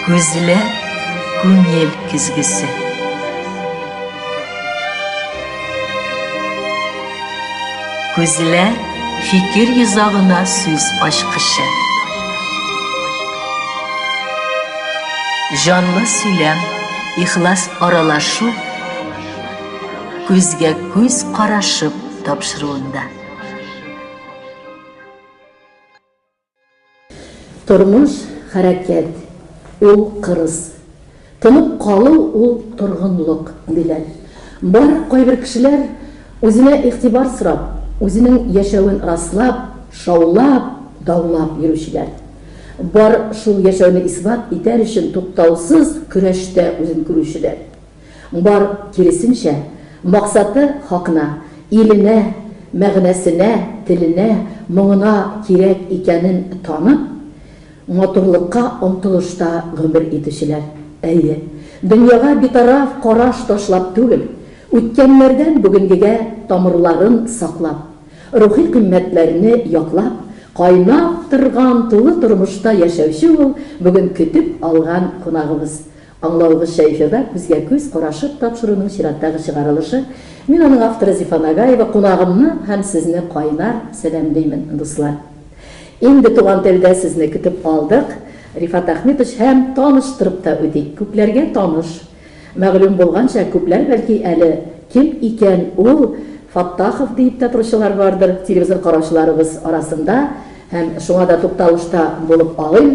Күзләр күңел көзгесе. Күзләр фикер йозагына сүз ачкычы. Җанлы сөйләм, ихлас аралашу күзгә күз карашып тапшыруында. Тормыш, хәрәкәт, ул кырыс. Тынып калу, ул торгынлык, диләр. Бар, кайбер кешеләр, үзенә игътибар сорап, үзенең яшәвен раслап, шаулап, даулап йөрүчеләр. Бар, шул яшәүне исбат итәр өчен туктаусыз көрәштә үзен күрүчеләр. Бар, киресенчә, максаты хакына, иленә, мәгънәсенә, теленә, моңына кирәк икәнен танып, матурлыкка омтылышта гомер итүчеләр. Әйе, дөньяга битараф караш ташлап түгел, үткәннәрдән бүгенгегә тамырларын саклап, рухи кыйммәтләрне яклап, кайнап торган тулы тормышта яшәүче ул бүген көтеп алган кунагыбыз, Аңлавыгызча, эфирда күзгә-күз карашып тапшыруның чираттагы чыгарылышы. Мин аның авторы Зифа Нагаева, кунагымны һәм сезне кайнар сәламлимен, дуслар. Инде туган телдә сезне көтеп алдык. Рифат Әхмитович һәм таныштырып та үтик, күпләргә таныш. Мәгълүм булганча, күпләр бәлки әле кем икән ул Фаттахов диеп тә торучылар бардыр телевизор караучыларыбыз арасында һәм шуңа да тукталышта булып алыйм.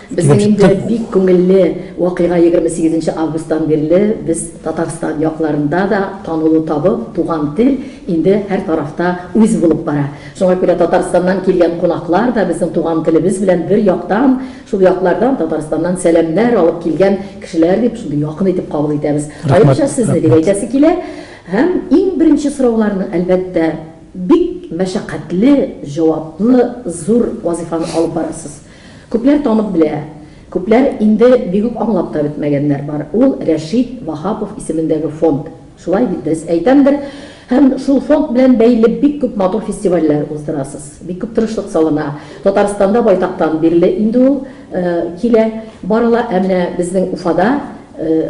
Безнең инде бик күңелле вакыйга, егерме сигезенче августтан бирле без Татарстан якларында да танылу табып, туган тел инде һәр тарафта үз булып бара. Шуңа күрә Татарстаннан килгән кунаклар да безнең туган телебез белән бер яктан, шул яклардан, Татарстаннан сәламнәр алып килгән кешеләр дип, шундый якын итеп кабул итәбез. Аеруча сезне дип әйтәсе килә. Һәм иң беренче сорауларны, әлбәттә, бик мәшәкатьле, җаваплы, зур вазыйфаны алып барасыз. Күпләр танып белә, күпләр инде бик үк аңлап та бетмәгәннәр бар. Ул, Рәшит Ваһапов исемендәге фонд. Шулай бит, дөрес әйтәмдер? Һәм шул фонд белән бәйле бик күп матур фестивальләр уздырасыз. Бик күп тырышлык салына. Татарстанда байтактан бирле инде ул килә, барыла. Ә менә безнең Уфада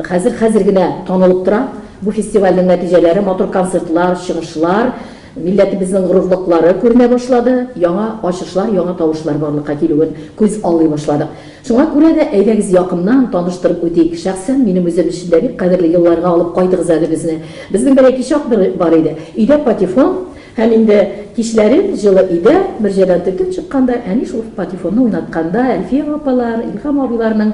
хәзер, хәзер генә танылып тора бу фестивальнең нәтиҗәләре, матур концертлар, чыгышлар. Милләтебезнең горурлыклары күренә башлады, яңа ачышлар, яңа тавышлар барлыкка килүен күз аллый башладык. Шуңа күрә дә, әйдәгез якыннан таныштырып үтик. Шәхсән минем үзем өчен дә бик кадерле елларга алып кайтыгыз әле безне. Безнең бер әти чак бер бар иде. Өйдә патефон һәм инде кичләрен җылы өйдә, мөрҗәдән төртеп чыкканда, әни шул патефонны уйнатканда, Әлфия апалар, Илһам абыйларның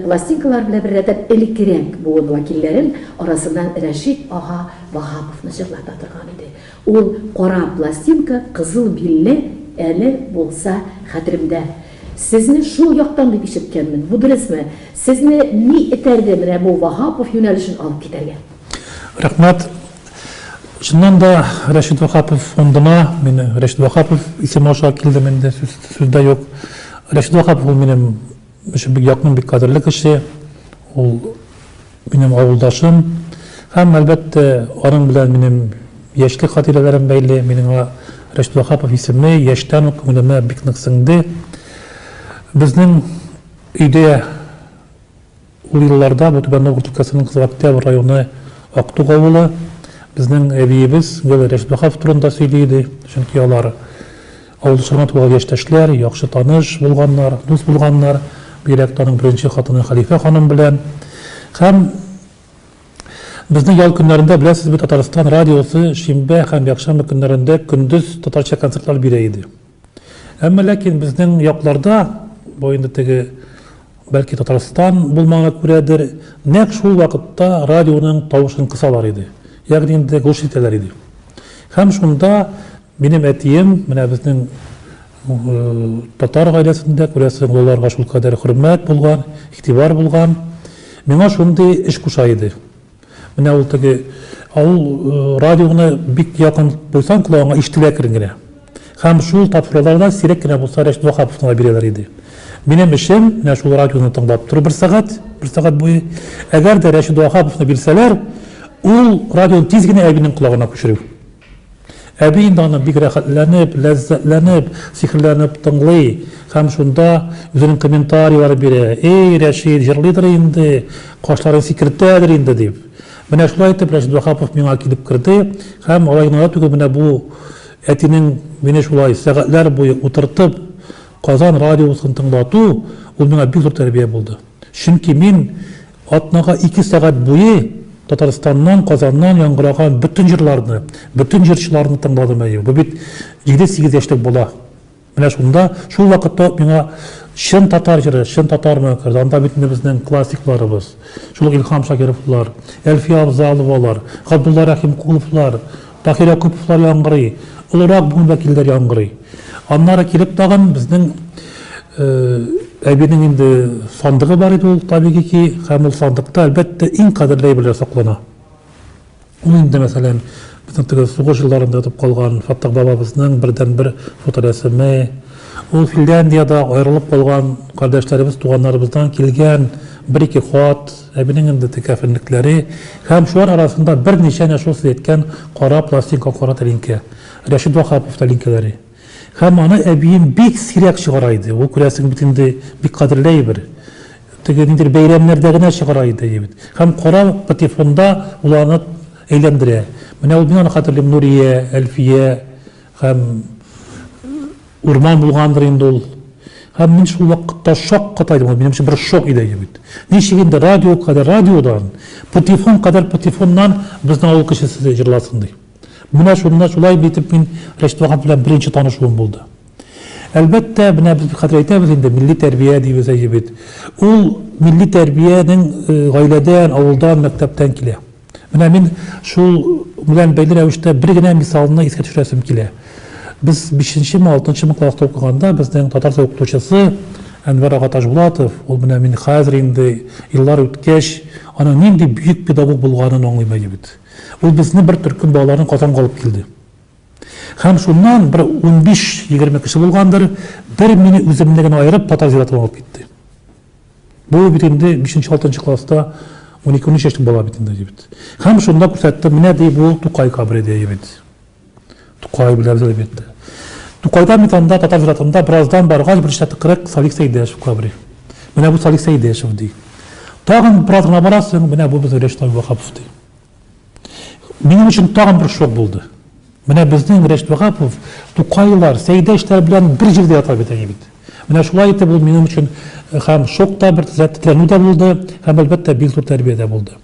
пластинкалары белән беррәттән элеккерәк буын вәкилләрен арасыннан Рәшит ага, Ваһаповны җырлата торган иде. Ул кара пластинка, кызыл билле, әле булса хәтеремдә. Сезне шул яктан дип ишеткәнмен. Бу дөресме? Сезне ни этәрде менә бу Ваһапов юнәлешен алып китәргә? Рәхмәт. Чыннан да Рәшит Ваһапов фондына мин Рәшит Ваһапов исеме аша килдем инде, сүз, сүз дә юк. Рәшит Ваһапов ул минем Өчен бик якын, бик кадерле кеше. Ул минем авылдашым. Һәм, әлбәттә, аның белән минем яшьлек хатирәләрем бәйле. Минем аңа Рәшит Ваһапов исеме яшьтән үк күңелемә бик нык сеңде. Безнең өйдә ул елларда бу Түбән Новгород өлкәсенең Кызыл Октябрь районы Актук авылы. Безнең әбиебез гел Рәшит Ваһапов турында сөйли иде, чөнки алар Ул соңрак туган яшьтәшләр, яхшы таныш булганнар, дус булганнар, бигрәк тә аның беренче хатыны Хәлифә ханым белән. Һәм безнең ял көннәрендә, беләсез бит, Татарстан радиосы шимбә һәм якшәмбе көннәрендә көндез татарча концертлар бирә иде. Әмма ләкин безнең якларда, бу инде теге, бәлки, Татарстан булмаганга күрәдер, нәкъ шул вакытта радионың тавышын кысалар иде, ягъни инде гуш итәләр иде. Һәм шунда Минем әтием, менә безнең татар гаиләсендә, күрәсең, олыларга шул кадәр хөрмәт булган, игътибар булган. Миңа шундый эш куша иде. Менә ул теге авыл радионы бик якын куйсаң колагыңа ишетелә әкрен генә. Һәм шул тапшыруларда сирәк кенә булса Рәшит Ваһаповны бирәләр иде. Минем эшем менә шул радионы тыңлап тору бер сәгать, бер сәгать буе. Әгәр дә Рәшит Ваһаповны бирсәләр, ул радионы тиз генә әбинең колагына күчерү. Әби инде аны бик рәхәтләнеп, ләззәтләнеп, сихерләнеп тыңлый һәм шунда үзенең комментарийлары бирә, Эй, Рәшит, җырлыйдыр инде, кашларын сикертәдер инде, дип. Менә шулай итеп Рәшит Ваһапов миңа килеп керде һәм алай гына да түгел, менә бу әтинең мине шулай сәгатьләр буе утыртып Казан радиосын тыңлату, ул миңа бик зур тәрбия булды. Чөнки мин Атнага ике сәгать буе Татарстаннан, Казаннан яңгыраган бөтен җырларны, бөтен җырчыларны тыңладым, әйе, бу бит җиде-сигез яшьлек бала. Менә шунда, шул вакытта ук миңа чын татар җыры, чын татар мөәккәр, анда бит менә безнең классикларыбыз, шул ук Илһам Шакировлар, Әлфия Авзаловалар, Габдулла Рәхимкуловлар, Таһир Якуповлар яңгырый, олырак буын вәкилләре яңгырый. Аннары килеп тагын безнең әбинең инде сандыгы бар иде ул, табигый ки, һәм ул сандыкта, әлбәттә, иң кадерле әйберләр саклана. Ул инде, мәсәлән, безнең теге сугыш елларында ятып калган Фәттах бабабызның бердәнбер фоторәсеме, ул Финляндиядә аерылып калган кардәшләребез, туганнарыбыздан килгән бер-ике хат, Әбинең инде текәфенлекләре һәм шулар арасында берничә әнә шул сез әйткән кара пластинка кара тәлинкә, Рәшит Ваһапов тәлинкәләре. Һәм аны әбием бик сирәк чыгара иде. Ул, күрәсең, бит инде бик кадерле әйбер. Теге ниндидер бәйрәмнәрдә генә чыгара иде әйбер. Һәм кара патефонда ул аны әйләндерә. Менә ул мин аны хәтерлим, Нурия, Әлфия һәм. Урман булгандыр инде ул. Һәм мин шул вакытта шаккатайдым, ул минем өчен бер шок иде инде бит. Ничек инде радио кадәр радиодан, патефон кадәр патефоннан безнең авыл кешесе җырласын ди. Менә шунда шулай итеп мин Рәшит Ваһап белән беренче танышуым булды. Әлбәттә, менә без хәзер әйтәбез инде, милли тәрбия дибез әйе бит. Ул милли тәрбиянең э, гаиләдән, авылдан, мәктәптән килә. Менә мин шул белән бәйле рәвештә бер генә мисалны искә төшерәсем килә. Без 5-ме, 6-мы класста укыганда безнең татарча укытучысы Әнвәр ага Тажбулатов, ул менә мин хәзер инде еллар үткәч, аның нинди бөек педагог булганын аңлыйм әле бит. Ул безне бер төркем балаларны Казанга алып килде. Һәм шуннан бер 15-20 кеше булгандыр, бер мине үземне генә аерып татар зиратына алып китте. Бу бит инде 5-6 класста унике-унөч яшьлек бала бит инде, дибет. Һәм шунда күрсәтте, менә ди бу Тукай кабре ди, дибет. Тукай беләбез әлбәттә. Тукайдан бит анда татар зиратында бераздан баргач берничә тыкрык Салих Сәйдәшев кабре. Менә бу Салих Сәйдәшев ди. Тагын бераз гына барасың, менә бу безнең Рәшит Абдулваһапов ди. Минем өчен тагын бер шок булды. Менә безнең Рәшит Вагапов Тукайлар, Сәйдәшләр белән бер җирдә ята бит әни бит. Менә шулай итеп ул минем өчен һәм шок та бер тетрәнү дә булды, һәм әлбәттә бик зур тәрбия дә булды.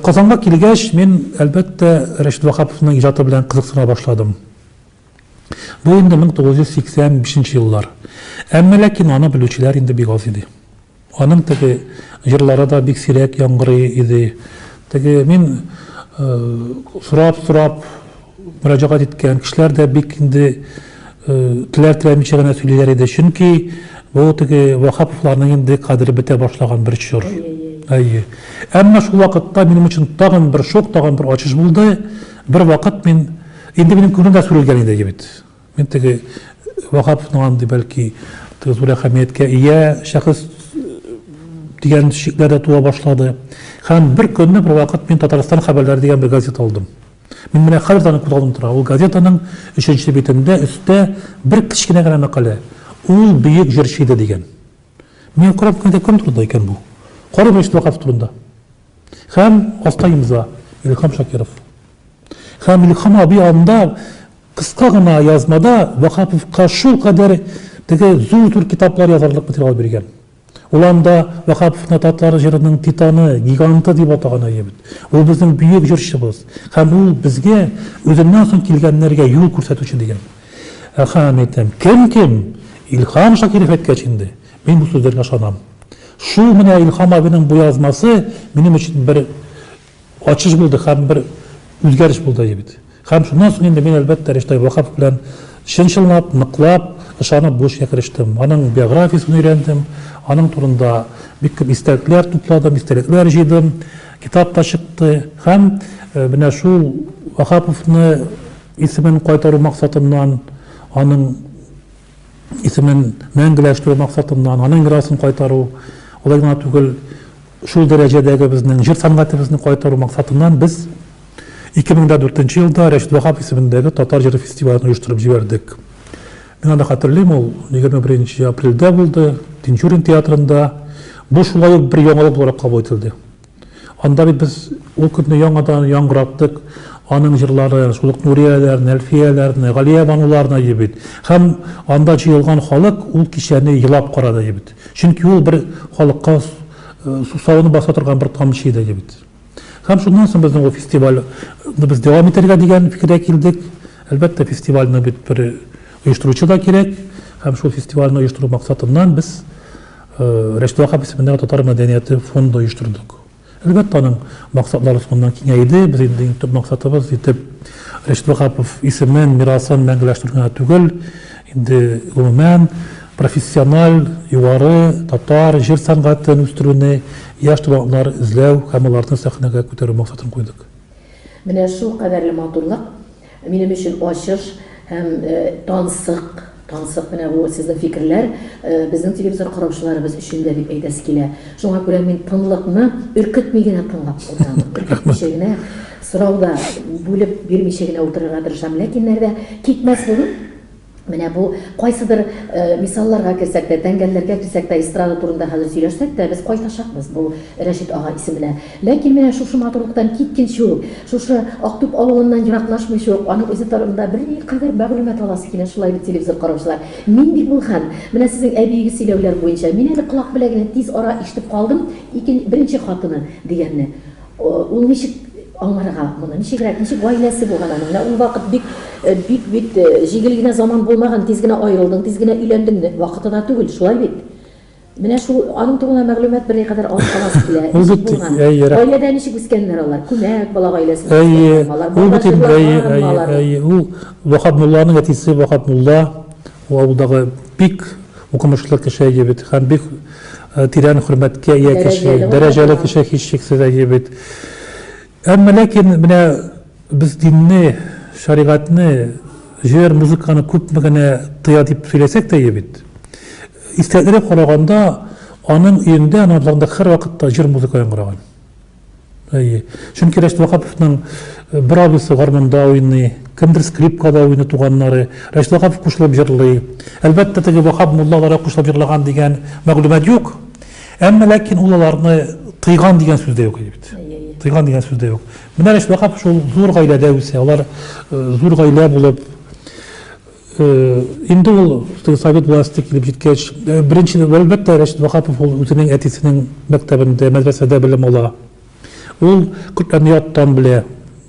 Казанга килгәч, мин әлбәттә Рәшит Вахаповның иҗаты белән кызыксына башладым. Бу инде 1985 еллар. Әмма ләкин аны белүчеләр инде бик аз иде. Аның теге җырлары да бик сирәк яңгырый иде. Теге мин сорап-сорап мөрәҗәгать иткән кешеләр дә бик инде теләр-теләмичә генә сөйлиләр иде. Чөнки бу теге Ваһаповларның инде кадере бетә башлаган бер чор. Әйе. Әмма шул вакытта минем өчен тагын бер шок, тагын бер ачыш булды. Бервакыт мин, инде минем күңелем дә сүрелгән иде бит. Мин теге Ваһаповның андый, бәлки, теге зур әһәмияткә ия шәхес дигән шикләр дә туа башлады. Һәм бер көнне бер вакыт мин Татарстан хәбәрләре дигән бер газета алдым. Мин менә хәзер дә күзалдым тора. Ул газетаның өченче битендә өстә бер кечкенә генә мәкалә. Ул бөек җырчы иде дигән. Мин карап кына кем турында икән бу? Кара Мөршит Ваһапов турында. Һәм аста имза Илһам Шакиров. Һәм Илһам абый анда Кыска гына язмада Ваһаповка шулкадәр теге зур-зур китаплар язарлык материал биргән. Ул анда Ваһаповны татар җырының титаны, гиганты дип атаган әле бит. Ул безнең бөек җырчыбыз һәм ул безгә үзеннән соң килгәннәргә юл күрсәтүче дигән. Әһә, мин әйтәм, кем-кем, Илһам Шакиров әйткәч инде, мин бу сүзләргә ышанам. Шул менә Илһам абыйның бу язмасы минем өчен бер Ачыш булды һәм бер үзгәреш булды бит. Һәм шуннан соң инде мин, әлбәттә, Риштәй Вакапов белән чын-чынлап, ныклап, ышанып бу эшкә керештем. Аның биографиясен өйрәндем, аның турында бик күп истәлекләр тупладым, истәлекләр җыйдым, китап та чыкты. Һәм менә шул Вакаповны исемен кайтару максатыннан, аның Исемен мәңгеләштерү максатыннан, аның мирасын кайтару, алай гына түгел, шул дәрәҗәдәге безнең җыр сәнгатебезне кайтару максатыннан без 2004 нче елда Рәшит Ваһап исемендәге татар җыры фестивален оештырып җибәрдек. Мин аны хәтерлим, ул 21 нче апрельдә булды, Тинчурин театрында. Бу шулай ук бер яңалык буларак кабул ителде. Анда бит без ул көнне яңадан яңгыраттык аның җырлары, шул ук Нурияләрне, Әлфияләрне, Галиябануларны иде бит. Һәм анда җыелган халык ул кичәне елап карады иде бит. Чөнки ул бер халыкка сусавын баса торган бер тамчы иде иде бит. Һәм шуннан соң безнең ул фестивальне без дәвам итәргә дигән фикергә килдек. Әлбәттә, фестивальне бит бер оештыручы да кирәк. Һәм шул фестивальне оештыру максатыннан без Республика исемендәге татар мәдәнияте фонды оештырдык. Әлбәттә, аның максатлары шуннан киңәй иде. Без инде иң төп максатыбыз итеп Рәшит Ваһапов исемен, мирасын мәңгеләштерү генә түгел, инде гомумән, профессиональ, югары татар җыр сәнгатен үстерүне, яшь талантлар эзләү һәм аларны сәхнәгә күтәрү максатын куйдык. Менә шулкадәрле матурлык, Минем өчен ачыш һәм тансык, тансык менә бу сезнең фикерләр безнең телевизор караучыларыбыз өчен дә дип әйтәсе килә. Шуңа күрә мин тынлыкны өркетми генә тыңлап утырам. Өркетмичә генә, сорау да бүлеп бирмичә генә утырырга тырышам. Ләкин нәрдә китмәслеген, Менә бу кайсыдыр мисалларга керсәк тә, тәңгәлләргә килсәк тә, эстрада турында хәзер сөйләшсәк тә, без кайтачакбыз бу Рәшит ага исеменә. Ләкин менә шушы матурлыктан киткенче үк, шушы Актүп авылыннан ераклашмыйча ук, аның үзе турында бер никадәр мәгълүмат аласы килә, шулай бит, телевизор караучылар? Мин бит бу хәл, менә сезнең әбиегез сөйләүләр буенча, мин әле колак беләгенә тиз ара ишетеп калдым, ике, беренче хатыны дигәнне. Ул ничек аңларга моны? Ничегрәк, ничек гаиләсе булган аның? Менә ул вакыт бик, бик бит җигел генә заман булмаган, тиз генә аерылдың, тиз генә өйләндең, вакытына түгел, шулай бит. Менә шул аның турында мәгълүмат берни кадәр алып каласы килә. Ул бит гаиләдә ничек үскәннәр алар? Күмәк бала гаиләсендә. Әйе, ул бит инде әйе, әйе, әйе. Ул Вахап мулланың әтисе, Вахап мулла. Ул авылдагы бик укымышлы кеше, әйе бит, һәм бик тирән хөрмәткә ия кеше, дәрәҗәле кеше, һичшиксез, әйе бит. Әмма ләкин менә без динне, шәригатьне, җыр, музыканы күпме генә тыя дип сөйләсәк тә, әйе бит. Истәлекләргә караганда, аның өендә, аның абзарында һәрвакытта җыр-музыка яңгыраган. Әйе. Чөнки Рәшит Вакаповның бер абыйсы гармунда уйный, кемдер скрипкада уйный, туганнары. Рәшит Вакапов кушылып җырлый. Әлбәттә, теге Ваһап мулла аларга кушылып җырлаган дигән мәгълүмат юк. Әмма ләкин ул аларны тыйган дигән сүз дә юк бит. Тыйган дигән сүз дә юк. Менә Рәшит Вакапов шул зур гаиләдә үсә. Алар зур гаилә булып Инде ул теге совет власте килеп җиткәч, беренче, әлбәттә, Рәшит Ваһапов ул үзенең әтисенең мәктәбендә, мәдрәсәдә белем ала. Ул Коръәнне яттан белә.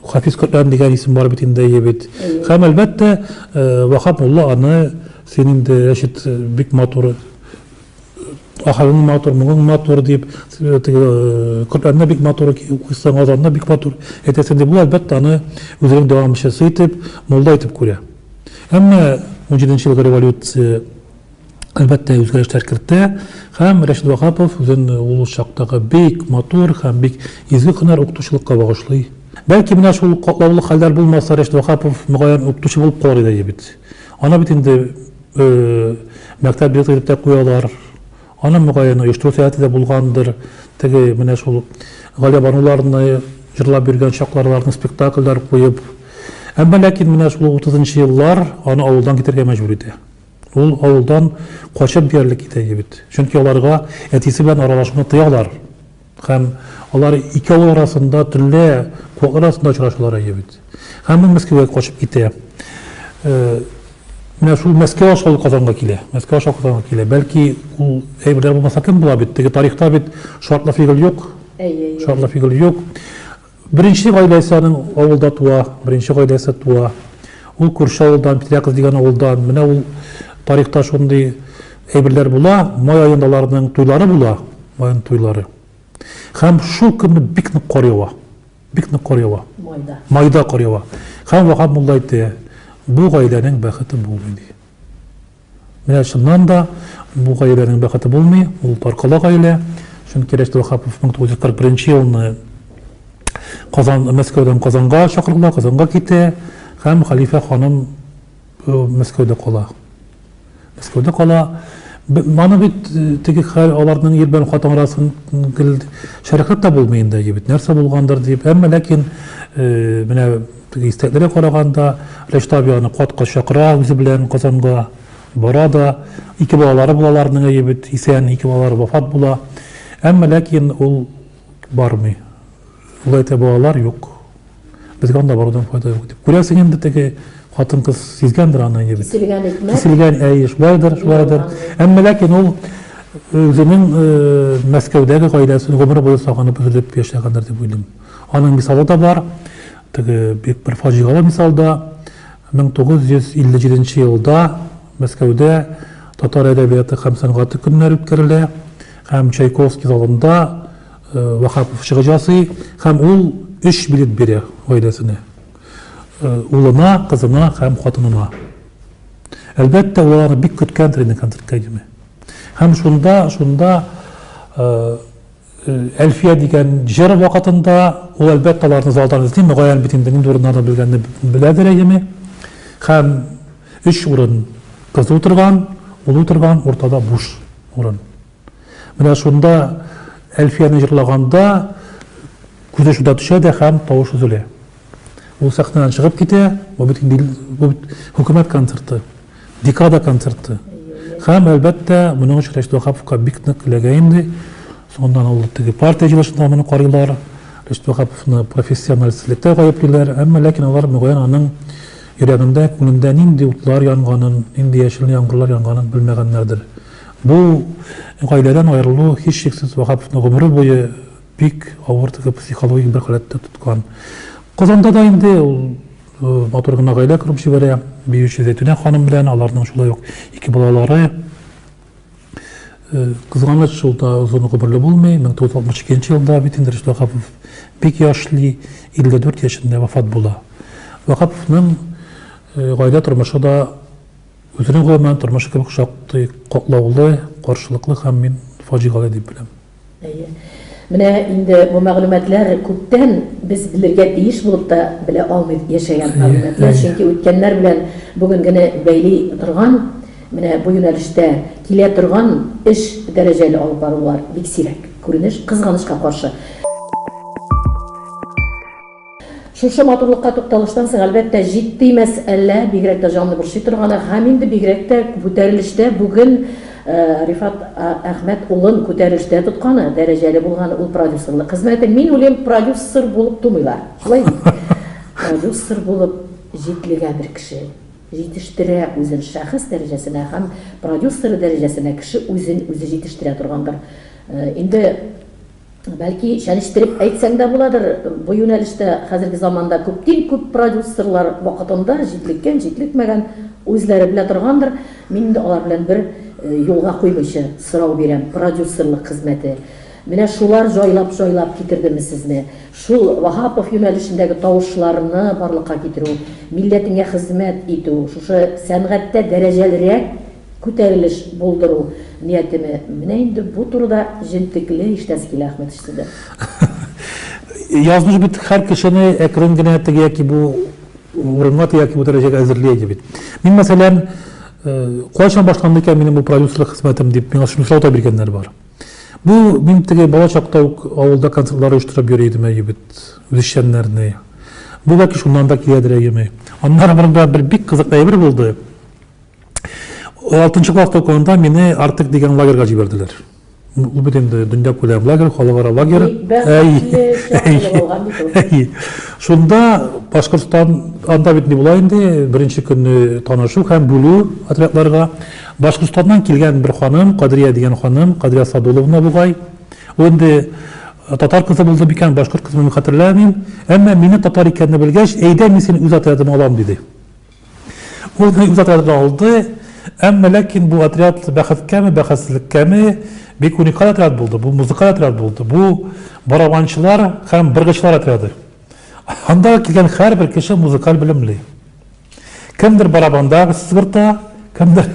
Хафиз Коръән дигән исем бар бит инде, әйе бит. Һәм, әлбәттә, Ваһап мулла аны, син инде, Рәшит, бик матур Ахырың матур, моңың матур дип, теге Коръәнне бик матур укыйсың, азанны бик матур әйтәсең дип, ул әлбәттә аны үзенең дәвамчысы итеп, мулла итеп күрә. Әмма 17 елгы революция әлбәттә үзгәрешләр кертә һәм Рәшид Вахапов үзен ул чактагы бик матур һәм бик изге һөнәр укытучылыкка багышлый. Бәлки менә шул катлаулы хәлләр булмаса, Рәшид Вахапов мөгаен укытучы булып калыр иде бит. Аны бит инде Мәктәп билеты дип тә куялар. Аны, мөгаен, оештыру сәләте дә булгандыр. Теге, менә шул Галиябануларны җырлап биргән чакларларны спектакльләр куеп. Әмма ләкин менә шул утызынчы еллар аны авылдан китәргә мәҗбүр итә. Ул авылдан качып диярлек китә егет. Чөнки аларга әтисе белән аралашуны тыялар. Һәм алар ике авыл арасында төнлә куаклар арасында очрашалар әйе бит. Һәм ул Мәскәүгә качып китә. Менә шул Мәскәү аша ул Казанга килә. Мәскәү аша Казанга килә. Бәлки ул әйберләр булмаса кем була бит, теге тарихта бит шартлы фигыль юк. Әйе, әйе. Шартлы фигыль юк. Беренче гаиләсе аның авылда туа, беренче гаиләсе туа. Ул күрше авылдан, Петряков дигән авылдан. Менә ул тарихта шундый әйберләр була, май аенда аларның туйлары була, майның туйлары. Һәм шул көнне бик нык кар ява. Бик нык кар ява. Майда. Майда кар ява. Һәм Ваһап мулла әйтте, бу гаиләнең бәхете булмый ди. Менә чыннан да, бу гаиләнең бәхете булмый, ул таркала гаилә, чөнки Рәшит Ваһапов 1941 елны Казан, Мәскәүдән Казанга чакырыла, Казанга китә һәм хәлифә ханым Мәскәүдә кала. Мәскәүдә кала. Маны бит теге хәл аларның ир белән хатын арасын гел шәрехләп тә булмый инде, бит нәрсә булгандыр дип. Әмма ләкин менә Теге истәкләргә караганда, Рәшит абый аны кат-кат чакыра үзе белән Казанга. Бара да. Ике балалары була аларның, әйе бит, исән, ике балалары вафат була. Әмма ләкин ул бармый. Ул әйтә, балалар юк. Безгә анда барудан файда юк дип. Күрәсең инде теге хатын-кыз сизгәндер аны, әйе бит. Киселгән икмәк. Киселгән, әйе, шулайдыр, шулайдыр. Әмма ләкин ул үзенең Мәскәүдәге гаиләсен гомер буе сагынып, өзелеп яшәгәндер дип уйлыйм. Аның мисалы да бар. Теге бик бер фаҗигале мисал да. 1957 елда Мәскәүдә татар әдәбияты һәм сәнгате көннәре үткәрелә һәм Чайковский залында э, Вахапов чыгыш ясый һәм ул өч билет бирә гаиләсенә. Э, улына, кызына һәм хатынына. Әлбәттә, улар бик көткән тренинг концертка идеме. Һәм шунда, шунда э, Әлфия дигән җыр вакытында ул әлбәттә аларны залдан эзли, мөгаен бит инде нинди урыннарда белгәнне беләдер әйеме. Һәм өч урын кыз утырган, ул утырган, уртада буш урын. Менә шунда Әлфияне җырлаганда күзе шунда төшә дә һәм тавыш өзелә. Ул сәхнәдән чыгып китә, бу бит инде бу бит хөкүмәт концерты, декада концерты. Һәм, әлбәттә, моның өчен Рәшит Ваһаповка бик нык эләгә инде. Соңыннан ул теге партия җыелышында моны карыйлар, Рәшит Ваһаповны профессионалистлектә гаеплиләр, әмма ләкин алар, мөгаен, аның йөрәгендә, күңелендә нинди утлар янганын, нинди яшел яңгырлар янганын белмәгәннәрдер. Бу гаиләдән аерылу, һичшиксез, Ваһаповны гомере буе Бик авыр теге психологик бер халәттә тоткан. Казанда да инде ул матур гына гаилә корып җибәрә, биюче Зәйтүнә ханым белән, аларның шулай ук ике балалары. Кызганыч, шул да озын гомерле булмый. 1962 елда бит инде Рөстәм Вахапов бик яшьли, 54 яшендә вафат була. Вахаповның гаилә тормышы да үзенең гомумән тормышы кебек шактый катлаулы, каршылыклы һәм мин фаҗигале дип беләм. Әйе. Менә инде бу мәгълүматлар күптән без белергә тиеш булып та белә алмый яшәгән мәгълүматлар, чөнки үткәннәр белән бүгенгене бәйли торган, менә бу юнәлештә килә торган эш дәрәҗәле алып барулар бик сирәк күренеш, кызганычка каршы. Шушы матурлыкка тукталыштан соң, әлбәттә, җитди мәсьәлә, бигрәк тә җанны борчый торганы, һәм инде бигрәк тә күтәрелештә бүген Рифат Әхмәт улын күтәрелештә тотканы, дәрәҗәле булганы ул продюсерлык хезмәте. Мин уйлыйм, продюсер булып тумыйлар, шулай бит? Продюсер булып җитлегә бер кеше җитештерә үзен шәхес дәрәҗәсенә һәм продюсеры дәрәҗәсенә кеше үзен үзе җитештерә торгандыр инде. Бәлки, чәнечтереп әйтсәң дә буладыр, бу юнәлештә хәзерге заманда күптин күп продюсерлар вакытында җитлеккән, җитлекмәгән, үзләре белә торгандыр. Мин инде алар белән бер юлга куймыйча сорау бирәм, продюсерлык хезмәте менә шулар җайлап-җайлап китердеме сезне? Шул Ваһапов юнәлешендәге тавышларны барлыкка китерү, милләтеңә хезмәт итү, шушы сәнгатьтә дәрәҗәлерәк күтәрелеш булдыру ниятеме? Менә инде бу турыда җентекле һичнә Скиле Ахметович сездән. Язмыш бит һәр кешене әкрен генә теге яки бу урынга, теге яки бу дәрәҗәгә әзерли иде бит. Мин, мәсәлән, кайчан башланды икән минем бу продюсерлык хезмәтем дип миңа шуны сорау да биргәннәр бар. Бу мин теге бала чакта ук авылда концертлар оештырып йөри идем, әйе бит, үзешчәннәрне. Бу бәлки шуннан да киләдер, әйеме. Аннары монда бер бик кызык әйбер булды. Алтынчы класс укуында мине Артык дигән лагерьга җибәрделәр. Ул бит инде дөнья күләм лагерь, халыкара лагерь. Әй. Шунда Башкортстан анда бит ни була инде, беренче көнне танышу һәм бүлү отрядларга. Башкортстаннан килгән бер ханым, Кадрия дигән ханым, Кадрия Садуловна бугай. Ул инде татар кызы булды микән, башкорт кызы мин хәтерләмим. Әмма мине татар икәнне белгәч, әйдә мин сине үз отрядыма алам диде. Ул үз отрядын алды, әмма ләкин бу отряд бәхеткәме, бәхетсезлеккәме, бик уникаль отряд булды. Бу музыкаль отряд булды. Бу барабанчылар һәм быргычлар отряды. Анда килгән һәрбер кеше музыкаль белемле. Кемдер барабанда сызгырта, кемдер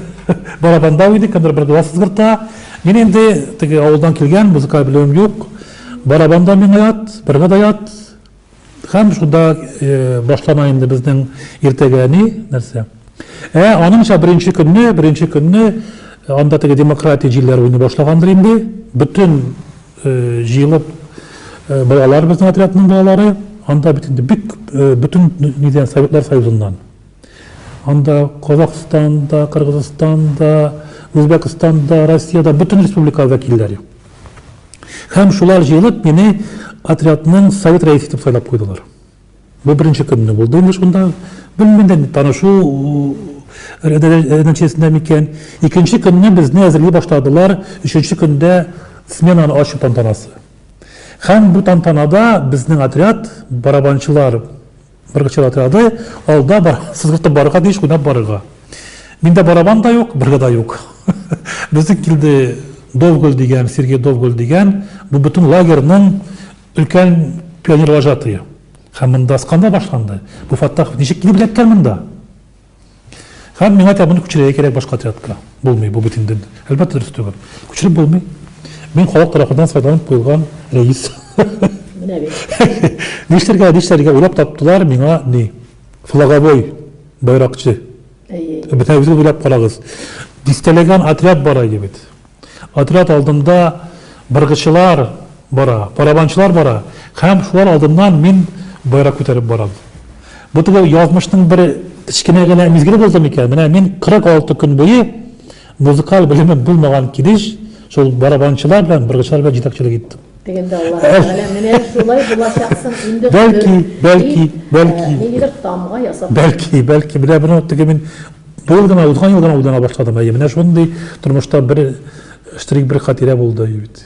барабанда уйный, кемдер быргыда сызгырта. Мин инде теге авылдан килгән, музыкаль белемем юк. Барабанда миңа ят, быргыда ят, Һәм шунда башлана инде безнең иртәгә ни, нәрсә. Ә аныңча беренче көнне, беренче көнне анда теге демократия җилләре уйный башлагандыр инде. Бөтен җыелып балалар безнең отрядның балалары, анда бит инде бик бөтен нидән Советлар Союзыннан. Анда Казахстанда, Кыргызстанда, Үзбәкстанда, Россиядә бөтен республикаларда килделәр. Һәм шулар җыелып, мине отрядның совет рәисе итеп сайлап куйдылар. Бу беренче көнне булды инде шунда. Белмим дә, танышу нәтиҗәсендә микән. Икенче көнне безне әзерли башладылар, өченче көндә сменаны ачу тантанасы. Һәм бу тантанада безнең отряд, барабанчылар, Быргычыр отряды алда бар, сызгыртып барырга тиеш, уйнап барырга. Миндә барабан да юк, быргы да юк. Безнең килде Довгөл дигән, Сергей Довгөл дигән, бу бөтен лагерьның өлкән пионер вожатые. Һәм монда скандал башланды. Бу Фаттахов ничек килеп эләккән монда? Һәм миңа тәмуны күчерергә кирәк башка отрядка. Булмый, бу бит инде. Әлбәттә, дөрес түгел. Күчереп булмый. Мин халык тарафыннан сайланып куелган рәис. Менә бит. Нишләргә, нишләргә уйлап таптылар миңа ни? Флаговой байракчы. Әйе. Бетә үзегез уйлап карагыз. Дистәләгән отряд бар иде бит. Отряд алдында быргычылар бара, барабанчылар бара һәм шулар алдыннан мин байрак күтәреп барам. Бу теге язмышның бер кечкенә генә мизгеле булды микән? Менә мин 46 көн буе музыкаль белеме булмаган килеш шул барабанчылар белән, быргычылар белән җитәкчелек иттем. Дигәндә Аллаһ Тәгалә менә шулай булачаксың инде Бәлки, бәлки, бәлки. Ниндидер тамга ясап. Бәлки, бәлки, менә бер минут теге мин бу ел гына, узган ел гына уйлана башладым. Әйе, менә шундый тормышта бер штрих, бер хатирә булды бит.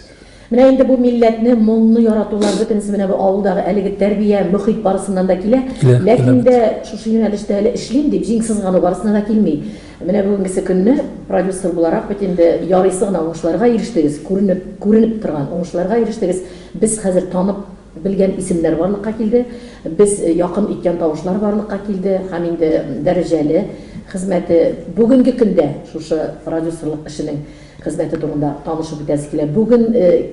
Менә инде бу милләтне, моңны яратулар бөтенесе менә бу авылдагы әлеге тәрбия, мөхит барысыннан да килә. Ләкин дә шушы юнәлештә әле эшлим дип җиң сызгану барысына да килми. Менә бүгенгесе көнне продюсер буларак бит инде ярыйсы гына уңышларга ирештегез, күренеп, күренеп торган уңышларга ирештегез. Без хәзер танып белгән исемнәр барлыкка килде, без якын иткән тавышлар барлыкка килде һәм инде дәрәҗәле хезмәте бүгенге көндә шушы продюсерлык эшенең Хезмәте турында танышып үтәсе килә. Бүген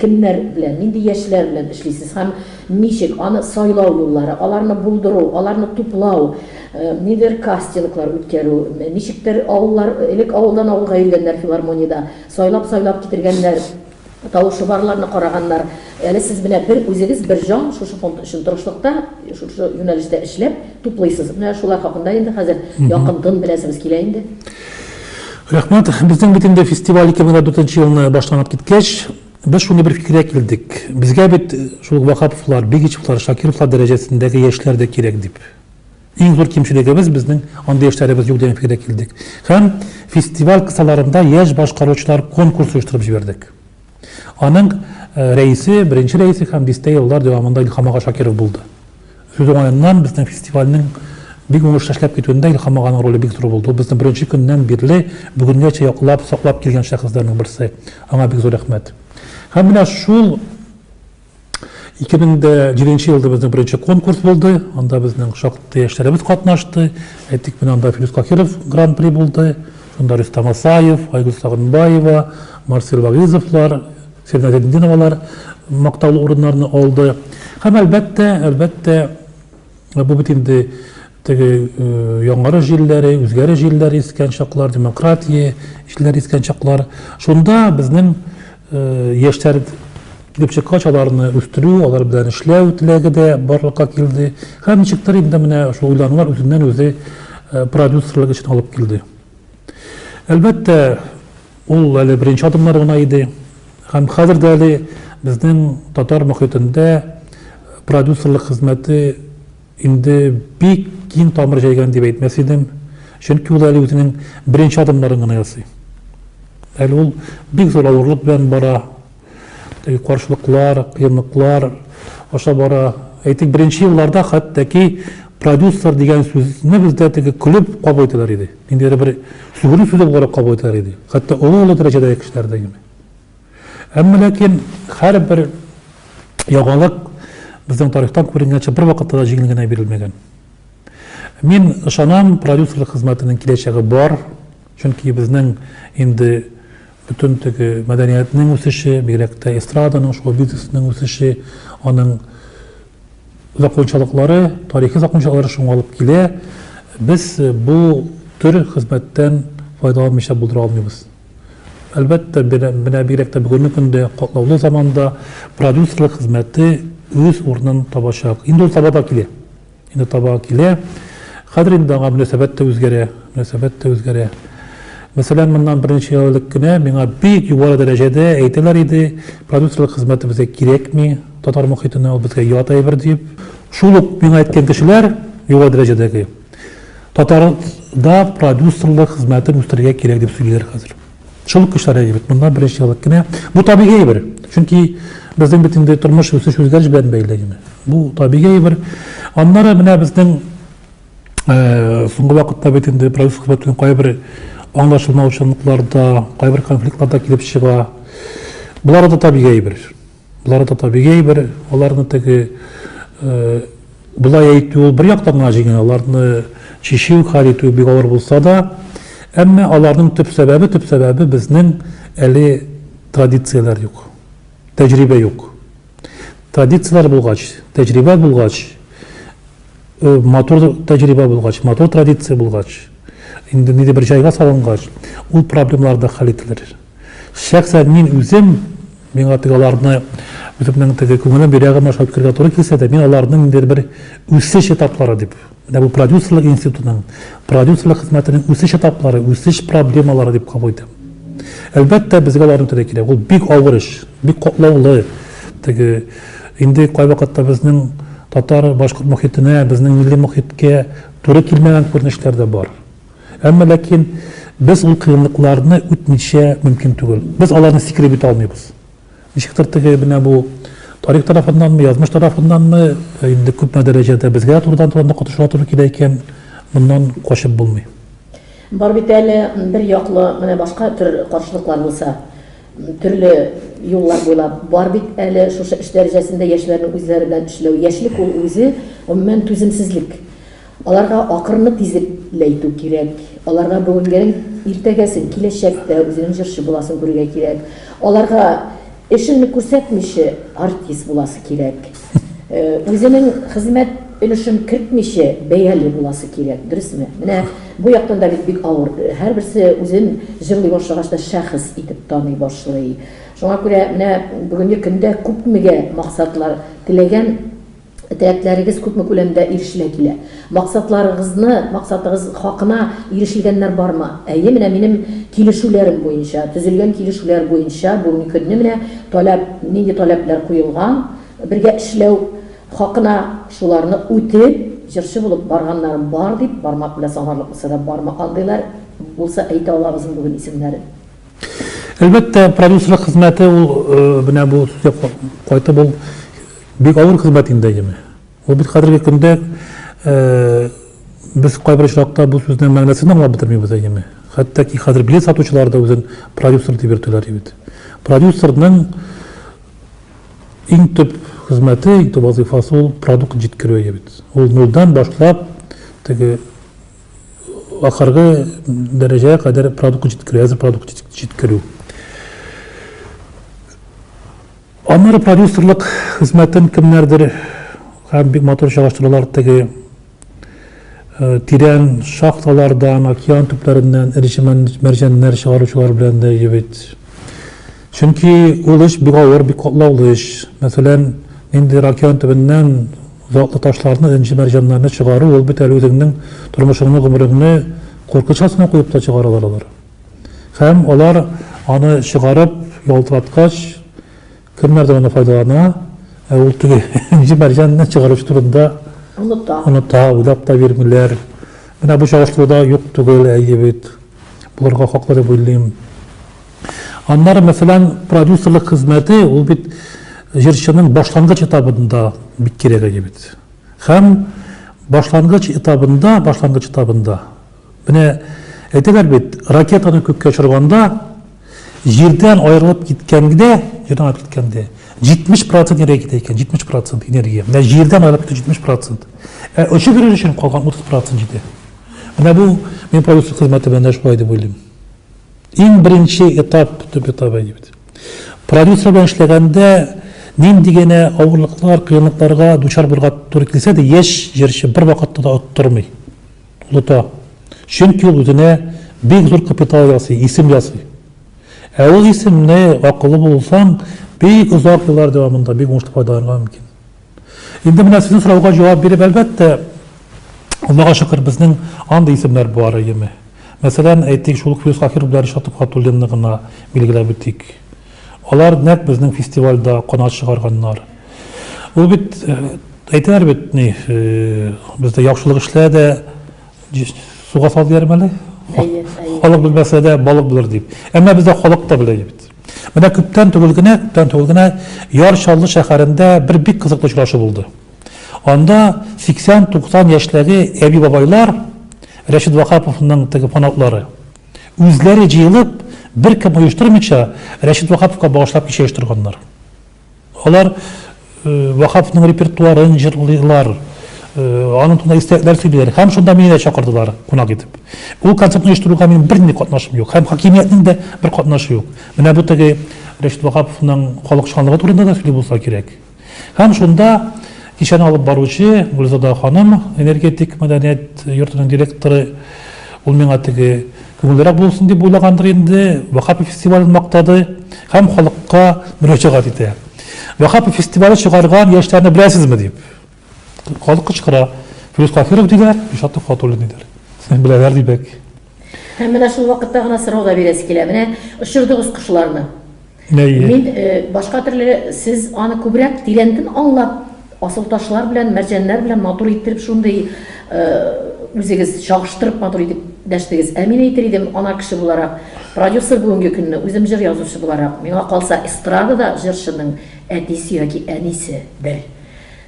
кемнәр белән, нинди яшьләр белән эшлисез һәм ничек аны сайлау юллары, аларны булдыру, аларны туплау, ниндидер кастинглар үткәрү, ничектер авыллар, элек авылдан авылга йөргәннәр филармониядә, сайлап-сайлап китергәннәр, тавышы барларны караганнар. Әле сез менә бер үзегез, бер җан шушы фонд өчен тырышлыкта, шушы юнәлештә эшләп, туплыйсыз. Менә шулар хакында инде хәзер якынтын беләсебез килә инде. Рәхмәт. Безнең бит инде фестиваль 2004 елны башланып киткәч, без шундый бер фикергә килдек. Безгә бит шул Ваһаповлар, Бигичевлар, Шакировлар дәрәҗәсендәге яшьләр дә кирәк дип. Иң зур кимчелегебез безнең андый яшьләребез юк дигән фикергә килдек. Һәм фестиваль кысаларында яшь башкаручылар конкурсы оештырып җибәрдек. Аның рәисе, беренче рәисе һәм дистә еллар дәвамында Илһам ага Шакиров булды. Сүз уңаеннан, безнең фестивальнең бик уңышлы эшләп китүендә Илһам аганың роле бик зур булды. Ул безне беренче көннән бирле бүгенгәчә яклап, саклап килгән шәхесләрнең берсе. Аңа бик зур рәхмәт. Һәм менә шул 2007 нче елда безнең беренче конкурс булды, анда безнең шактый яшьләребез катнашты. Әйтик, менә анда Филүс Кахиров гран-при булды, шунда Рөстәм Асаев, Айгөл Сагынбаева, Марсель Вагизовлар, Сирина Зәйнетдиновалар мактаулы урыннарны алды. Һәм әлбәттә, әлбәттә, бу бит инде Теге яңгыры җилләре, үзгәре җилләре искән чаклар, демократия җилләре искән чаклар. Шунда безнең яшьләр килеп чыккач, аларны үстерү, алар белән эшләү теләге дә барлыкка килде. Һәм ничектер инде менә шул уйланулар үзеннән-үзе продюсерлык эшен алып килде. Әлбәттә, ул әле беренче адымнар гына иде. Һәм хәзер дә әле безнең татар мөхитендә продюсерлык хезмәте Инде бик киң тамыр җәйгән дип әйтмәс идем, чөнки ул әле үзенең беренче адымнарын гына ясый. Әле ул бик зур авырлык белән бара, теге каршылыклар, кыенлыклар аша бара. Әйтик, беренче елларда хәтта-ки продюсер дигән сүзне бездә теге көлеп кабул итәләр иде. Ниндидер бер сүгенү сүзе буларак кабул итәләр иде. Хәтта олы-олы дәрәҗәдәге кешеләр дә инде. Әмма ләкин һәрбер яңалык безнең тарихтан күренгәнчә бер вакытта да җиңел генә бирелмәгән. Мин ышанам, продюсерлык хезмәтенең киләчәге бар, чөнки безнең инде бөтен теге мәдәниятнең үсеше, бигрәк тә эстраданың, шоу бизнесының үсеше, аның закончалыклары, тарихи закончалыклары шуңа алып килә. Без бу төр хезмәттән файдаланмыйча булдыра алмыйбыз. Әлбәттә, менә бигрәк тә бүгенге көндә, катлаулы заманда продюсерлык хезмәте үз урынын табачак. Инде ул таба да килә. Инде таба килә. Хәзер инде аңа мөнәсәбәт тә үзгәрә, мөнәсәбәт тә үзгәрә. Мәсәлән, моннан берничә ел элек кенә миңа бик югары дәрәҗәдә әйтәләр иде, продюсерлык хезмәте безгә кирәкми, татар мохитенә ул безгә ят әйбер дип. Шул ук миңа әйткән кешеләр, югары дәрәҗәдәге, Татарда продюсерлык хезмәтен үстерергә кирәк дип сөйлиләр хәзер. Шул көчләр әйе бит, моннан беренче еллык кенә. Бу табигый әйбер. Чөнки безнең бит инде тормыш үсеш үзгәреш белән бәйле генә. Бу табигый әйбер. Аннары менә безнең э, соңгы вакытта бит инде продюсер хезмәт белән кайбер аңлашылмаучанлыклар да, кайбер конфликтлар да килеп чыга. Болар да табигый әйбер. Болар да табигый бер, аларны теге болай әйтү ул бер яктан гына җиңел, аларны чишү, хәл итү бик авыр булса да, әмма аларның төп сәбәбе, төп сәбәбе безнең әле традицияләр юк, тәҗрибә юк. Традицияләр булгач, тәҗрибә булгач, э, матур тәҗрибә булгач, матур традиция булгач, инде ниндидер бер җайга салынгач, ул проблемалар да хәл ителер. Шәхсән мин үзем, миңа теге аларны үземнең теге күңелем йөрәгем аша үткәрергә туры килсә дә, мин аларны ниндидер бер үсеш этаплары дип, менә бу продюсерлык институтының, продюсерлык хезмәтенең үсеш этаплары, үсеш проблемалары дип кабул итәм. Әлбәттә, безгә аларны үтәргә кирәк. Ул бик авыр эш, бик катлаулы. Теге инде кайвакытта безнең татар-башкорт мохитенә, безнең милли мохиткә туры килмәгән күренешләр дә бар. Әмма ләкин без ул кыенлыкларны үтмичә мөмкин түгел. Без аларны сикереп үтә алмыйбыз. Ничектер теге менә бу тарих тарафыннанмы, язмыш тарафыннанмы, э, инде күпме дәрәҗәдә безгә турыдан-турыдан катышырга туры килә икән, моннан качып булмый. Бар бит әле бер яклы менә башка төр каршылыклар булса, төрле юллар буйлап бар бит әле шушы эш дәрәҗәсендә яшьләрнең үзләре белән эшләү. Яшьлек ул үзе гомумән түземсезлек. Аларга акырынып тизлекләйтү кирәк. Аларга бүгенгең, иртәгәсен, киләчәктә үзенең җырчы буласын күрергә кирәк. Аларга эшеңне күрсәтмиче, артист буласы кирәк. Үзенең хезмәт өлешен кертмиче, бәяле буласы кирәк, дөресме? Менә бу яктан да бит бик авыр. Һәрберсе үзен җырлый башлагач та шәхес итеп таный башлый. Шуңа күрә менә бүгенге көндә күпмегә максатлар теләгән, Теләкләрегез күпме күләмдә ирешелә килә? Максатларыгызны, максатыгыз хакына ирешелгәннәр бармы? Әйе, менә минем килешүләрем буенча, төзелгән килешүләр буенча бүгенге көнне менә таләп, нинди таләпләр куелган, бергә эшләү хакына, шуларны үтеп, җырчы булып барганнарым бар, дип бармак белән санарлык булса да бармы, андыйлар булса әйтә алабызмы бүген исемнәрен? Әлбәттә, продюсерлык хезмәте ул, менә бу сүзгә кайтып, ул, Бик авыр хезмәт инде, әйеме? Ул бит хәзерге көндә без кайбер очракта бу сүзнең мәгънәсен дә аңлап бетермибез, әйеме? Хәтта ки хәзер билет сатучылар да үзен продюсер дип йөртәләр бит. Продюсерның иң төп хезмәте, иң төп вазыйфасы ул продукт җиткерү бит. Ул нульдан башлап теге ахыргы дәрәҗәгә кадәр продукт җиткерү, әзер продукт җиткерү. Аннары продюсерлык хезмәтен кемнәрдер һәм бик матур чагыштыралар теге тирән шахталардан, океан төпләреннән эре мәрҗәннәр чыгаручылар белән дә җебет. Чөнки ул эш бик авыр, бик катлаулы эш. Мәсәлән, ниндидер океан төбеннән затлы ташларны, энҗе мәрҗәннәрне чыгару, ул бит әле үзеңнең тормышыңны, гомереңне куркыныч астына куеп та чыгаралар алар. Һәм алар аны чыгарып ялтыраткач, кемнәрдер аны файдалана, ә ул теге инҗе мәрҗәнне чыгаручы турында оныта. Оныта, уйлап та бирмиләр. Менә бу чагыштыруда юк түгел, әйе бит. Булырга хаклы дип уйлыйм. Аннары, мәсәлән, продюсерлык хезмәте, ул бит җырчының башлангыч этабында бик кирәк әйе бит. Һәм башлангыч этабында, башлангыч этабында Менә әйтәләр бит, ракетаны күккә очырганда, җирдән аерылып киткәндә, җирдән аерылып киткәндә, 70 процент энергия китә икән, 70 процент энергия. Менә җирдән аерылып китә 70 процент. Ә очып йөрер өчен калган 30 процент җитә. Менә бу мин продюсер хезмәте белән дә шулай дип уйлыйм. Иң беренче этап, төп этап әйди бит. Продюсер белән эшләгәндә нинди генә авырлыклар, кыенлыкларга дучар булырга туры килсә дә, яшь җырчы бер вакытта да оттырмый. Оныта. Чөнки ул үзенә бик зур капитал ясый, исем ясый. Ә ул исемне, акыллы булсаң, бик озак еллар дәвамында бик уңышлы файдаланырга мөмкин. Инде менә сезнең сорауга җавап биреп, әлбәттә, Аллага шөкер, безнең андый исемнәр бар, әйеме? Мәсәлән, әйтик, шул ук Фирдүс Хафиров белән Ришат Төхвәтуллинны гына билгеләп үтик. Алар нәкъ безнең фестивальдә канат чыгарганнар. Ул бит, әйтәләр бит, ни, бездә яхшылык эшлә дә, суга сал дияр мәле. Халык белмәсә дә, балык булыр дип. Әмма бездә халык та белә бит. Менә күптән түгел генә, күптән түгел генә Яр Чаллы шәһәрендә бер бик кызыклы очрашу булды. Анда 80-90 яшьтәге әби-бабайлар Рәшит Ваһаповның теге фанатлары Үзләре җыелып, беркем оештырмыйча, Рәшит Вахаповка багышлап кичә оештырганнар. Алар Вахаповның репертуарын җырлыйлар, аның турында истәлекләр сөйлиләр һәм шунда мине дә чакырдылар кунак итеп. Ул концертны оештыруга минем бернинди катнашым юк һәм хакимиятнең дә бер катнашы юк. Менә бу теге Рәшит Вахаповның халыкчанлыгы турында да сөйли булса кирәк. Һәм шунда кичәне алып баручы Гөлзада ханым, энергетик мәдәният йортының директоры, ул миңа теге күңеллерәк булсын дип уйлагандыр инде, Вахапов фестивален мактады һәм халыкка мөрәҗәгать итә. Вахапов фестивале чыгарган яшьләрне беләсезме дип. Халык кычкыра. Фирүз Каһиров диләр, Илшат Төхвәтуллин диләр. Беләләр димәк. Һәм менә шул вакытта гына сорау да бирәсе килә. Менә очырдыгыз кошларны. Әйе. Мин башка төрле сез аны күбрәк тирәнтен аңлап, асылташлар белән, мәрҗәннәр белән матур иттереп шундый үзегез чагыштырып матур итеп дәштегез. Ә мин әйтер идем, ана кеше буларак, продюсер бүгенге көнне, үзем җыр язучы буларак, миңа калса, эстрадада җырчының әтисе яки әнисе бер.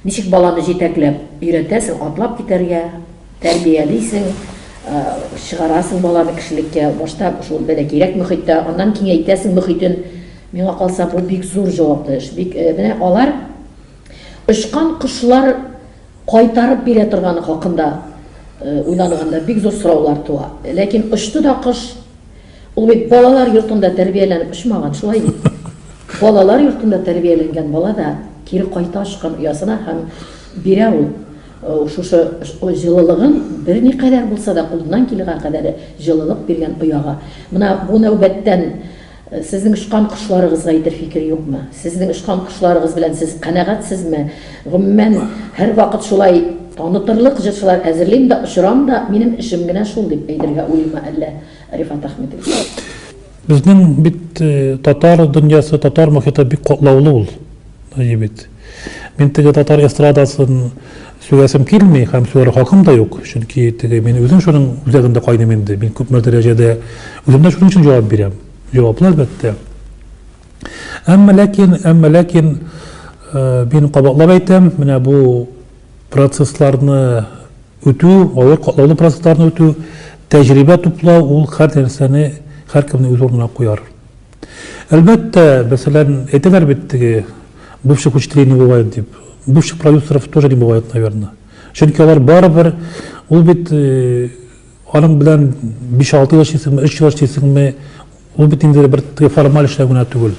Ничек баланы җитәкләп өйрәтәсең атлап китәргә, Тәрбиялисең, чыгарасың баланы кешелеккә. Башта шул бәлә кирәк мөхиттә, аннан киңәйтәсең мөхитен. Миңа калса, бу бик зур җаваплы эш. Бик, менә алар очкан кошлар кайтарып бирә торганы хакында уйланганда бик зур сораулар туа. Ләкин очты да кош. Ул бит балалар йортында тәрбияләнеп очмаган, шулай бит? Балалар йортында тәрбияләнгән бала да кире кайта очкан оясына һәм бирә ул. Ул шушы җылылыгын берникадәр булса да кулыннан килгән кадәре җылылык биргән ояга. Менә бу нәүбәттән сезнең очкан кошларыгызга әйтер фикер юкмы? Сезнең очкан кошларыгыз белән сез канәгатьсезме? Гомумән, һәрвакыт шулай танытырлык җырчылар әзерлим дә, очырам да, минем эшем генә шул, дип әйтергә уйлыймы әллә Рифат Әхмитович? Безнең бит татар дөньясы, татар мохиты бик катлаулы ул. Ну, егет. Мин теге татар эстрадасын сөйләсем килми һәм сөйләр хакым да юк, чөнки теге мин үзем шуның үзәгендә кайным инде. Мин күпме дәрәҗәдә үзем дә шуның өчен җавап бирәм. Җаваплы әлбәттә. Әмма ләкин, әмма ләкин э, мин кабатлап әйтәм, менә бу процессларны үтү, авыр катлаулы процессларны үтү, тәҗрибә туплау ул һәр нәрсәне һәркемне үз урынына куяр. Әлбәттә, мәсәлән, әйтәләр бит теге бывших учителей не бывает дип. Бывших продюсеров тоже не бывает, наверное. Чөнки алар барыбер ул бит э, аның белән 5-6 ел эшлисеңме, 3 ел эшлисеңме, ул бит инде бер теге формаль эшләү генә түгел.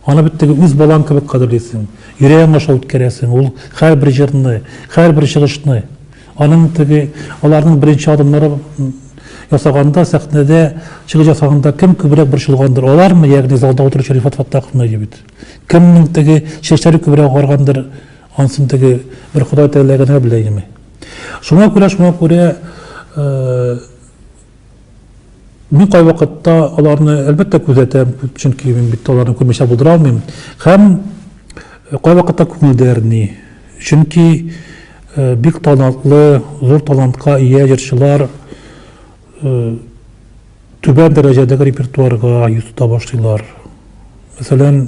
Аны бит теге үз балаң кебек кадерлисең. Йөрәгең аша үткәрәсең. Ул һәрбер җырны, һәрбер чыгышны. Аның теге, аларның беренче адымнары ясаганда, сәхнәдә чыгыш ясаганда кем күбрәк борчылгандыр? Алармы, ягъни залда утыручы Рифат Фаттаховны егет? Кемнең теге чәчләре күбрәк агаргандыр? Ансын теге бер Ходай Тәгалә генә белә инеме? Шуңа күрә, шуңа күрә, э, Мин кайвакытта аларны, әлбәттә, күзәтәм, чөнки мин бит аларны күрмичә булдыра алмыйм. Һәм э, кайвакытта күңелдә әрни. Чөнки э, бик талантлы, зур талантка ия җырчылар э, түбән дәрәҗәдәге репертуарга йөз тота башлыйлар. Мәсәлән,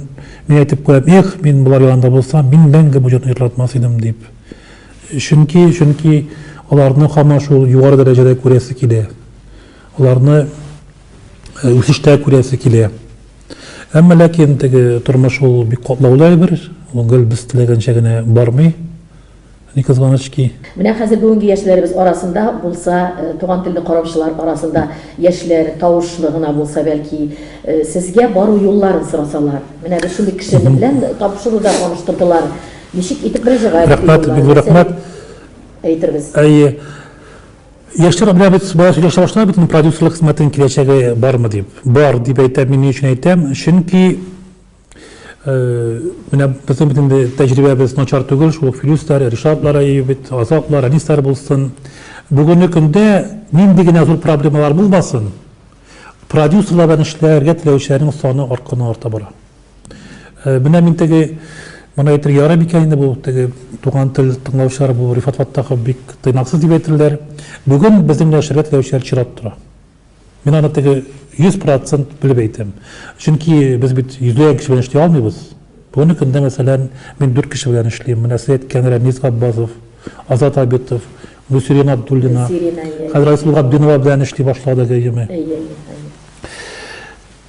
мин әйтеп куям, эх, мин болар янында булсам, мин мәңге бу җырны җырладмас идем дип. Чөнки, чөнки аларны һаман шул югары дәрәҗәдә күрәсе килә. Аларны э, үсештә күрәсе килә. Әмма ләкин теге тормыш ул бик катлаулы әйбер, ул гел без теләгәнчә генә бармый. Ни кызганыч ки. Менә хәзер бүгенге яшьләребез арасында булса, э, туган телне караучылар арасында яшьләр тавышлы гына булса, бәлки, э, сезгә бару юлларын сорасалар. Менә без шундый кеше белән табышыруда таныштырдылар. Ничек итеп мөрәҗәгать Рәхмәт, бик зур рәхмәт. Әйтербез. Әйе. Яшьләр белән бит бала сөйләшә башлар бит продюсерлык хезмәтенең киләчәге бармы дип. Бар дип әйтәм, мин ни өчен әйтәм? Чөнки э, менә безнең бит инде тәҗрибәбез начар түгел, шул ук Филюстар, Ришатлар әйе бит, Азатлар, Әнистар булсын. Бүгенге көндә нинди генә зур проблемалар булмасын, Продюсерлар белән эшләргә теләүчеләрнең саны артканнан-арта бара. Э, менә мин теге моны әйтергә ярый микән инде бу теге туган тел тыңлаучылар бу Рифат Фаттахов бик тыйнаксыз дип әйтерләр. Бүген безнең белән эшләргә теләүчеләр чират тора. Мин аны теге 100% белеп әйтәм. Чөнки без бит йөзләгән кеше белән эшли алмыйбыз. Бүгенге көндә, мәсәлән, мин дүрт кеше белән эшлим. Менә сез әйткән Рәмис Габбазов, Азат Абитов, Гөлсирина Абдуллина. Гөлсирина, әйе. Хәзер Айсылу Габдинова белән эшли башлады гееме. Әйе, әйе.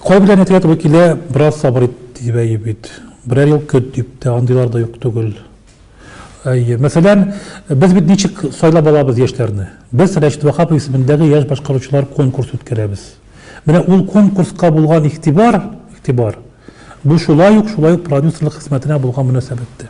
Кай белән әйтергә туры килә, бераз сабыр ит, дип әйе бит. Берәр ел көт дип тә, андыйлар да юк түгел. Әйе. Мәсәлән, без бит ничек сайлап алабыз яшьләрне? Без Рәшит Вахапов исемендәге яшь башкаручылар конкурс үткәрәбез. Менә ул конкурска булган игътибар, игътибар, бу шулай ук, шулай ук продюсерлык хезмәтенә булган мөнәсәбәттә.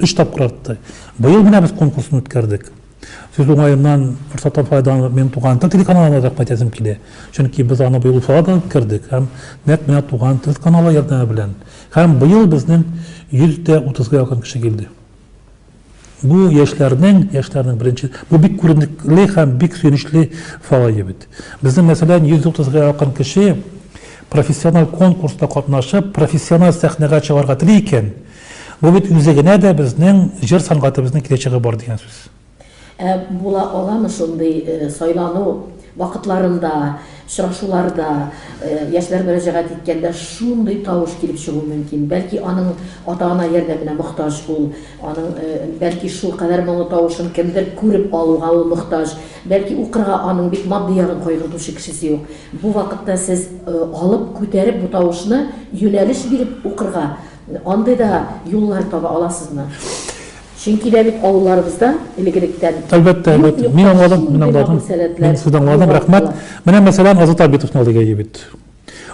Өч тапкыр артты. Быел менә без конкурсын үткәрдек. Сүз уңаеннан, форсаттан файдаланып, минем туган тел телеканалына рәхмәт әйтәсем килә. Чөнки без аны быел Уфада да үткәрдек һәм нәкъ менә туган тел каналы ярдәме белән. Һәм быел безнең 100 дә 30 га якын кеше килде. Бу яшьләрнең, яшьләрнең беренче, бу бик күренекле һәм бик сөенечле фалая бит. Безнең, мәсәлән, 130 га якын кеше профессиональ конкурста катнашып, профессиональ сәхнәгә чыгарга тели икән, Бу бит үзе генә дә безнең җыр сәнгатебезнең киләчәге бар дигән сүз. Ә була аламы шундый сайлану вакытларында, очрашуларда, яшьләр мөрәҗәгать иткәндә шундый тавыш килеп чыгу мөмкин? Бәлки аның ата-ана ярдәменә мохтаҗ ул, аның бәлки шулкадәр моңлы тавышын кемдер күреп алуга ул мохтаҗ, бәлки укырга аның бит матди ягын кайгыртучы кешесе юк. Бу вакытта сез алып, күтәреп бу тавышны юнәлеш биреп укырга, Андый да юллар таба аласызмы? Чөнки дә бит авылларыбызда элек-электән Әлбәттә, әлбәттә. Мин аңладым, мин аңладым. Мин сезне аңладым, рәхмәт. Менә мәсәлән, Азат Абитовны алыйк әйе бит.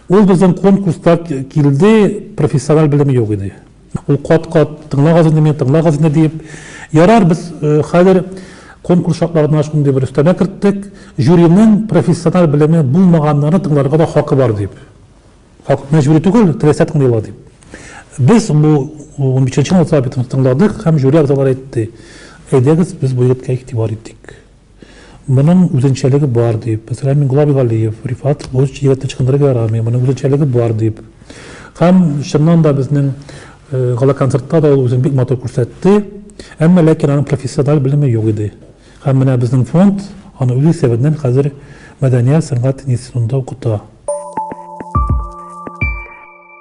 Ул безнең конкурста килде, профессиональ белеме юк иде. Ул кат-кат тыңлагыз инде мине, тыңлагыз инде диеп. Ярар, без э, хәзер конкурс шартларына шундый бер өстәмә керттек, жюриның профессиональ белеме булмаганнарны тыңларга да хакы бар дип. Хак, мәҗбүри түгел, теләсә кем дыйла дип. Без бу 15-нче минутта битен тыңладык һәм жюри әгъзалары әйтте. Әйдәгез, без бу егеткә игътибар итик. Моның үзенчәлеге бар дип, мәсәлән, Миңгула Бигалиев, Рифат бу егетне чыкындырырга ярамый, моның үзенчәлеге бар дип. Һәм чыннан да безнең э, гала концертта да ул үзен бик матур күрсәтте. Әмма ләкин аның профессиональ белеме юк иде. Һәм менә безнең фонд аны үз исәбеннән хәзер мәдәният, сәнгать институтында укыта.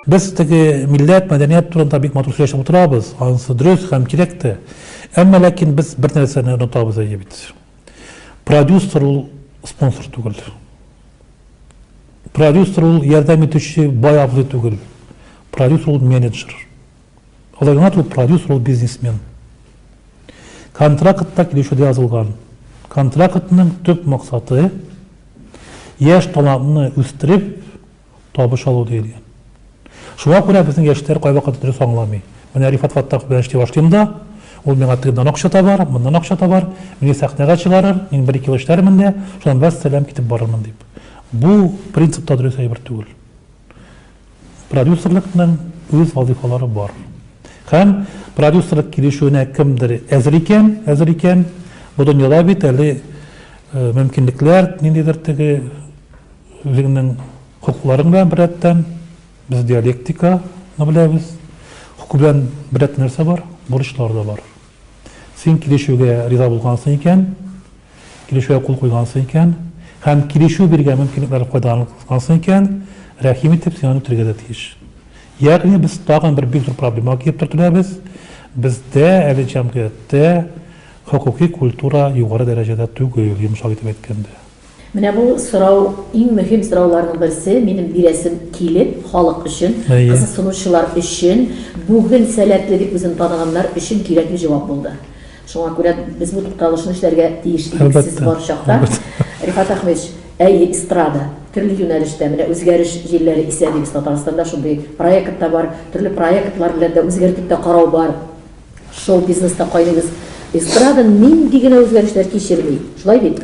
Без теге милләт, мәдәният турында бик матур сөйләшеп утырабыз, анысы дөрес һәм кирәк тә. Әмма ләкин без бер нәрсәне онытабыз әйе бит. Продюсер ул спонсор түгел. Продюсер ул ярдәм итүче бай абзый түгел. Продюсер ул менеджер. Алай гына түгел, продюсер ул бизнесмен. Контракт та килешүдә язылган. Контрактның төп максаты, яшь талантны үстереп, табыш алу диелгән. Шуңа күрә безнең яшьләр кайвакыт дөрес аңламый. Менә Рифат Фаттахов белән эшли башлыйм да, ул миңа тегеннән акча табар, моннан акча табар, мине сәхнәгә чыгарыр, мин бер-ике ел эшләрмен дә, шуннан вәссәлам, китеп барырмын, дип. Бу принцип та дөрес әйбер түгел. Продюсерлыкның үз вазыйфалары бар. Һәм продюсерлык килешүенә кемдер әзер икән, әзер икән, бу дөньяда бит әле мөмкинлекләр, ниндидер теге үзеңнең хокукларың белән беррәттән, без диалектиканы беләбез, хокук белән беррәттән нәрсә бар? Бурычлар да бар. Син килешүгә риза булгансың икән, килешүгә кул куйгансың икән һәм килешү биргән мөмкинлекләр файдаланылгансың икән, рәхим итеп, син аны үтәргә дә тиеш. Ягъни без тагын бер бик зур проблемага килеп төртеләбез, бездә әле җәмгыятьтә хокукый культура югары дәрәҗәдә түгел, йомшак итеп әйткәндә. Менә бу сорау, иң мөһим сорауларның берсе, минем бирәсем килеп, халык өчен, кызыксынучылар өчен, бүген сәләтле дип үзен таныганнар өчен кирәкле җавап булды. Шуңа күрә без бу тукталышны эшләргә тиеш идек сез бар чакта. Рифат Әхмевич, әйе, эстрада, төрле юнәлештә, менә үзгәреш җилләре исә дибез Татарстанда, шундый проект та бар, төрле проектлар белән дә үзгәртеп тә карау бар, шоу-бизнеста кайныйбыз. Эстрада нинди генә үзгәрешләр кичерми, шулай бит?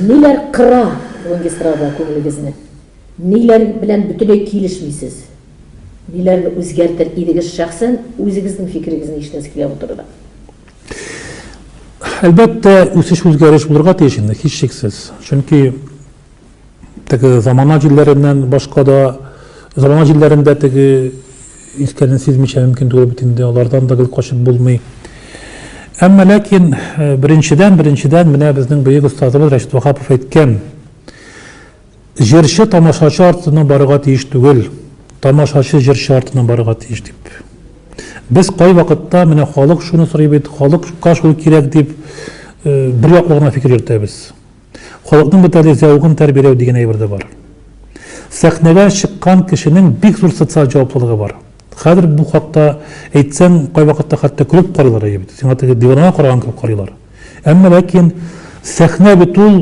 Ниләр кыра бүгенге эстрада күңелегезне? Ниләр белән бөтенләй килешмисез? Ниләрне үзгәртер идегез шәхсән, үзегезнең фикерегезне ишетәсе килә бу турыда? Әлбәттә, үсеш-үзгәреш булырга тиеш инде, һичшиксез. Чөнки теге замана җилләреннән башка да, замана җилләрендә теге искәрен сизмичә мөмкин түгел бит инде, алардан да гел качып булмый. Әмма ләкин э, беренчедән, беренчедән менә безнең бөек остазыбыз Рәшит Вахапов әйткән, Җырчы тамашачы артыннан барырга тиеш түгел, тамашачы җырчы артыннан барырга тиеш, дип. Без кайвакытта, менә халык шуны сорый бит, халыкка шул кирәк, дип, бер яклы гына фикер йөртәбез. Халыкның бит әле зәвыгын тәрбияләү дигән әйбер дә бар. Сәхнәгә чыккан кешенең бик зур социаль җаваплылыгы бар. Хәзер бу хакта әйтсәң, кайвакытта хәтта көлеп карыйлар, әйе бит, сиңа теге диванага караган кебек карыйлар. Әмма ләкин сәхнә бит ул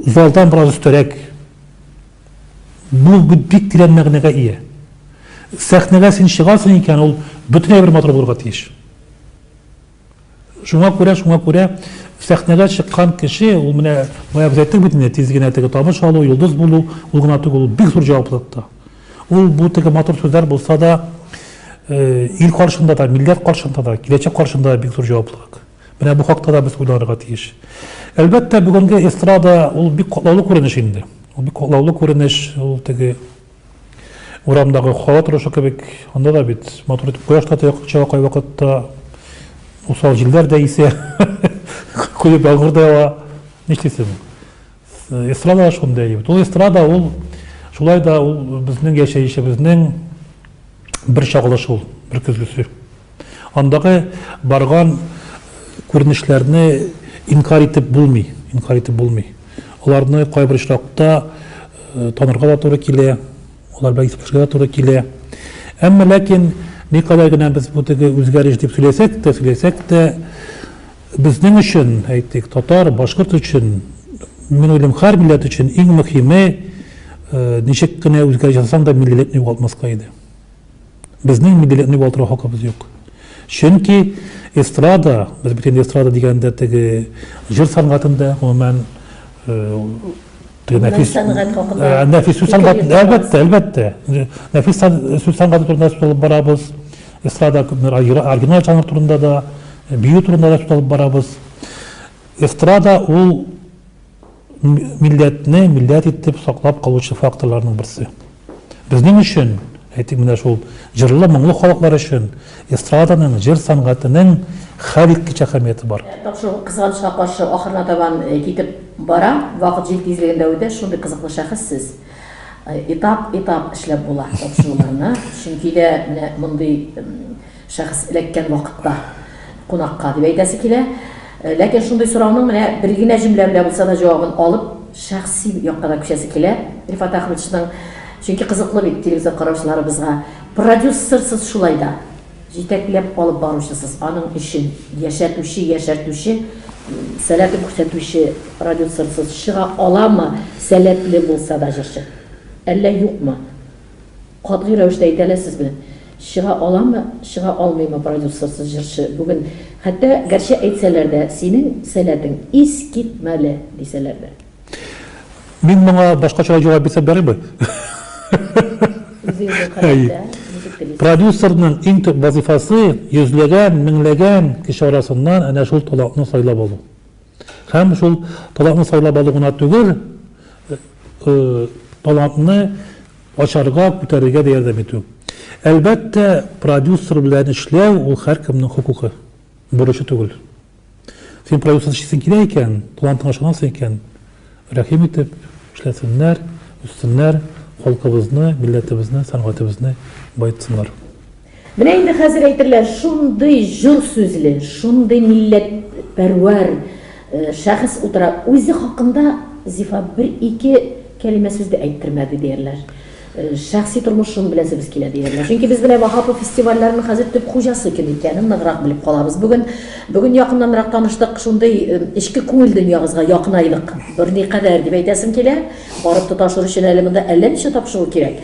залдан бераз өстәрәк. Бу бик тирән мәгънәгә ия. Сәхнәгә син чыгасың икән, ул бөтенләй бер матур булырга тиеш. Шуңа күрә, шуңа күрә сәхнәгә чыккан кеше, ул менә бая без әйттек бит инде, тиз генә теге табыш алу, йолдыз булу, ул гына түгел, ул бик зур җаваплылык та. Ул бу теге матур сүзләр булса да, э, ил каршында да, милләт каршында да, киләчәк каршында да бик зур җаваплылык. Менә бу хакта да без уйланырга тиеш. Әлбәттә, бүгенге эстрада ул бик катлаулы күренеш инде. Ул бик катлаулы күренеш, ул теге урамдагы хава торышы кебек, анда да бит матур итеп кояш та чыга кайвакытта, усал җилләр дә исә, кое яңгыр да ява. Нишлисең? Эстрада да шундый әйбер. Ул эстрада ул шулай да ул безнең яшәешебезнең бер чагылышы ул, бер көзгесе. Андагы барган күренешләрне инкар итеп булмый, инкар итеп булмый. Аларны кайбер очракта э, танырга да туры килә, алар белән исәпләшергә дә туры килә. Әмма ләкин никадәр генә без бу теге үзгәреш дип сөйләсәк тә, сөйләсәк тә, Безнең өчен, әйтик, татар, башкорт өчен, мин уйлыйм, һәр милләт өчен иң мөхиме, ничек кенә үзгәреш ясасаң да, миллилекне югалтмаска иде. Безнең миллилекне югалтырга хакыбыз юк. Чөнки эстрада, без бит инде эстрада дигәндә теге җыр сәнгатендә, гомумән, Нәфис сәнгать хакында. Э, нәфис сүз сәнгать, әлбәттә, әлбәттә. Нәфис сүз сәнгате турында сүз алып барабыз. Эстрада күпмер оригинал жанр турында да, э, бию турында да сүз алып барабыз. Эстрада ул милләтне милләт итеп саклап калучы факторларның берсе. Безнең өчен, әйтик, менә шул җырлы, моңлы халыклар өчен эстраданың, җыр сәнгатенең хәлиткеч әһәмияте бар. Тапшыру кызганычка каршы ахырына табан китеп бара, вакыт җил тизлегендә үтә, шундый кызыклы шәхес сез. Этап-этап эшләп була тапшыруларны, чөнки дә менә мондый Шәхес эләккән вакытта кунакка дип әйтәсе килә. Ләкин шундый сорауның менә бер генә җөмлә белән булса да җавабын алып, шәхси якка да күчәсе килә Рифат Әхмәтшның. Чөнки кызыклы бит телевизор караучыларыбызга. Продюссерсыз шулай да. Җитәкләп алып баручысыз, аның өчен яшәтүче, яшәртүче, сәләтен күрсәтүче продюссерсыз чыга аламы, сәләтле булса да җырчы? Әллә юкмы? Катгый рәвештә әйтә аласызмы, чыга аламы, чыга алмыймы продюсерсыз җырчы бүген? Хәтта гәрчә әйтсәләр дә, синең сәләтең искитмәле, дисәләр дә. Мин моңа башкачарак җавап бирсәм ярыймы? Үзегезгә карап та, ничек телисез. Продюсерның иң төп вазыйфасы, йөзләгән, меңләгән кеше арасыннан әнә шул талантны сайлап алу. Һәм шул талантны сайлап алу гына түгел, талантны ачарга, күтәрергә дә ярдәм итү. Әлбәттә, продюсер белән эшләү ул һәркемнең хокукы, бурычы түгел. Син продюсер эшлисең килә икән, талантыңа ышанасың икән, рәхим итеп эшләсеннәр, үссеннәр, халкыбызны, милләтебезне, сәнгатебезне баетсыннар. Менә инде хәзер әйтерләр, шундый җор сүзле, шундый милләтпәрвәр шәхес утыра, үзе хакында Зифа бер-ике кәлимә сүз дә әйттермәде, диярләр. Шәхси тормышым белән сүз килә, диярләр. Чөнки без менә Ваһапов фестивальләренең хәзер төп хуҗасы кем икәнен ныграк белеп калабыз. Бүген, бүген якыннанрак таныштык, шундый эчке күңел дөньягызга якынайдык. Берникадәр дип әйтәсем килә. Барып тоташыр өчен әле монда әллә ничә тапшыру кирәк.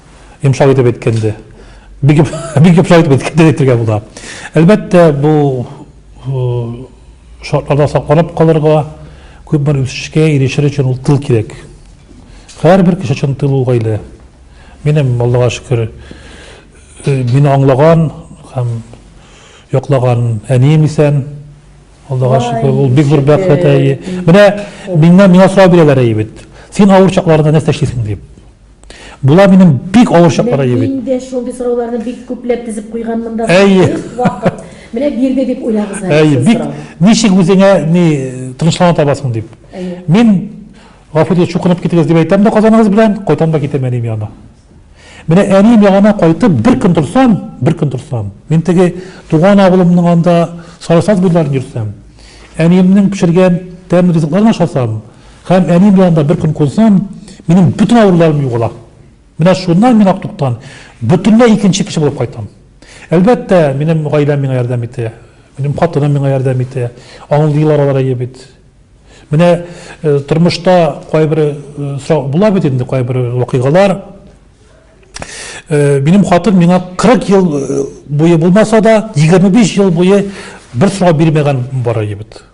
йомшак итеп әйткәндә. Бик бик йомшак итеп әйткәндә әйтергә була. Әлбәттә, бу шартларда сакланып калырга, күп бер үсешкә ирешер өчен ул тыл кирәк. Һәрбер кеше өчен тыл ул гаилә. Минем Аллага шөкер, мине аңлаган һәм яклаган әнием исән. Аллага шөкер, ул бик зур бәхет әйе. Менә миннән миңа сорау бирәләр әйе бит. Син авыр чакларында нәрсә эшлисең дип. Була минем бик авыр чаклар әйе бит. Инде шундый сорауларны бик күпләп тезеп куйган монда. Әйе. Вакыт. Менә бирде дип уйлагыз әле. Әйе, бик ничек үзеңә ни тынычлана табасың дип. Әйе. Мин гафу итегез, чукынып китегез дип әйтәм дә казаныгыз белән, кайтам да китәм әнием янына. Менә әнием янына кайтып бер көн торсам, бер көн торсам, мин теге туган авылымның анда сарысаз буйларын йөрсәм, әниемнең пешергән тәмле ризыкларын ашасам, Һәм әни белән дә бер көн кунсам, минем бөтен авыруларым югала. Менә шуннан мин Актуктан бөтенләй икенче кеше булып кайтам. Әлбәттә, минем гаиләм миңа ярдәм итә. Минем хатыным миңа ярдәм итә. Аңлыйлар алар әйе бит. Менә тормышта кайбер сорау була бит инде, кайбер вакыйгалар. Минем хатын миңа 40 ел буе булмаса да, 25 ел буе бер сорау бирмәгән бар әйе бит.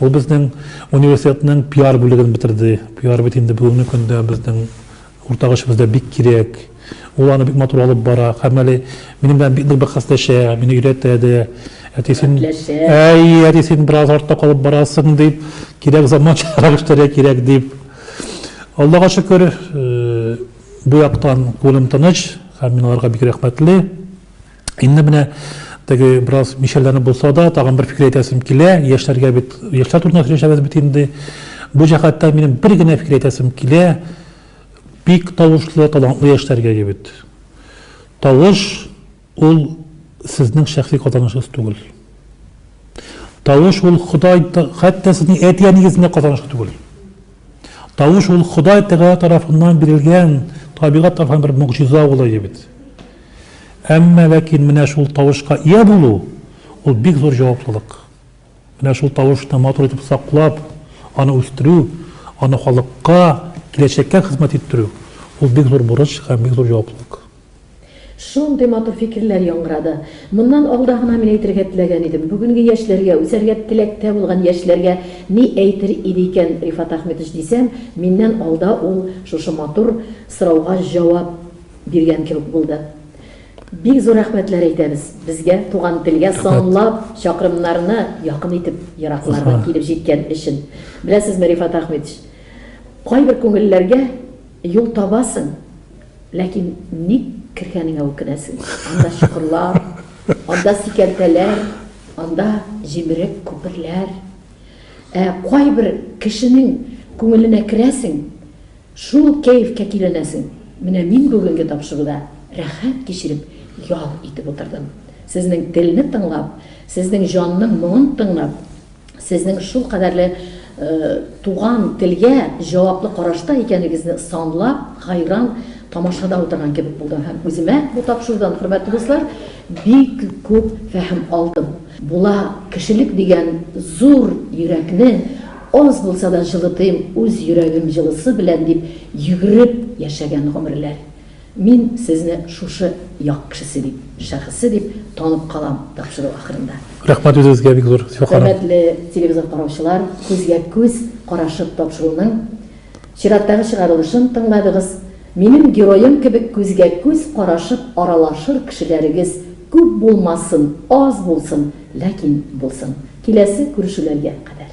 Ул безнең университетның пиар бүлеген бетерде. Пиар бит инде бүгенге көндә безнең уртак эшебездә бик кирәк. Ул аны бик матур алып бара. Һәм әле минем белән бик нык бәхәсләшә, мине өйрәтә дә. Әти, син, Дәртләшә. әй, әти, син бераз артта калып барасың, дип, кирәк заманчарак эшләргә кирәк, дип. Аллага шөкер, бу яктан күңелем тыныч һәм мин аларга бик рәхмәтле. Инде менә теге бераз мишәрләнеп булса да, тагын бер фикер әйтәсем килә. Яшьләргә бит, яшьләр турында сөйләшәбез бит инде. Бу җәһәттән минем бер генә фикер әйтәсем килә. Бик тавышлы, талантлы яшьләргә егет. Тавыш ул сезнең шәхси казанышыгыз түгел. Тавыш ул Ходай, хәтта сезнең әти-әнигезнең дә казанышы түгел. Тавыш ул Ходай Тәгалә тарафыннан бирелгән табигать тарафыннан бер могҗиза улые бит. Әмма ләкин менә шул тавышка ия булу, ул бик зур җаваплылык. Менә шул тавышны матур итеп саклап, аны үстерү, аны халыкка, киләчәккә хезмәт иттерү, ул бик зур бурыч һәм бик зур җаваплылык. Шундый матур фикерләр яңгырады. Моннан алда гына мин әйтергә теләгән идем. Бүгенге яшьләргә, үсәргә теләктә булган яшьләргә ни әйтер иде икән Рифат Әхметович дисәм, миннән алда ул шушы матур сорауга җавап биргән кебек булды. Бик зур рәхмәтләр әйтәбез. Безгә, туган телгә санлап чакрымнарны якын итеп ераклардан килеп җиткән өчен. Беләсезме, Рифат Әхметович, кайбер күңелләргә юл табасың. Ләкин ник кергәнеңә үкенәсең. Анда чокырлар, анда сикәлтәләр, анда җимерек күперләр. Ә кайбер кешенең күңеленә керәсең, шул кәефкә киленәсең. Менә мин бүгенге тапшыруда рәхәт кичереп ял итеп утырдым. Сезнең телне тыңлап, сезнең җанның моңын тыңлап. сезнең шулкадәрле туган телгә җаваплы карашта икәнегезне санлап гайран тамашада утырган кебек булдым һәм үземә бу тапшырудан, хөрмәтле дуслар, бик күп фәһем алдым. Була, кешелек дигән зур йөрәкне аз булса да җылытыйм үз йөрәгем җылысы белән дип йөгереп яшәгән гомерләр. Мин сезне шушы як кешесе дип, шәхесе дип танып калам тапшыру ахырында. Рәхмәт үзегезгә бик зур, Зифа ханым. Хөрмәтле телевизор караучылар, күзгә күз карашып тапшыруның чираттагы чыгарылышын тыңладыгыз. Минем героем кебек күзгә күз карашып аралашыр кешеләрегез күп булмасын, аз булсын, ләкин булсын. Киләсе күрешүләргә кадәр.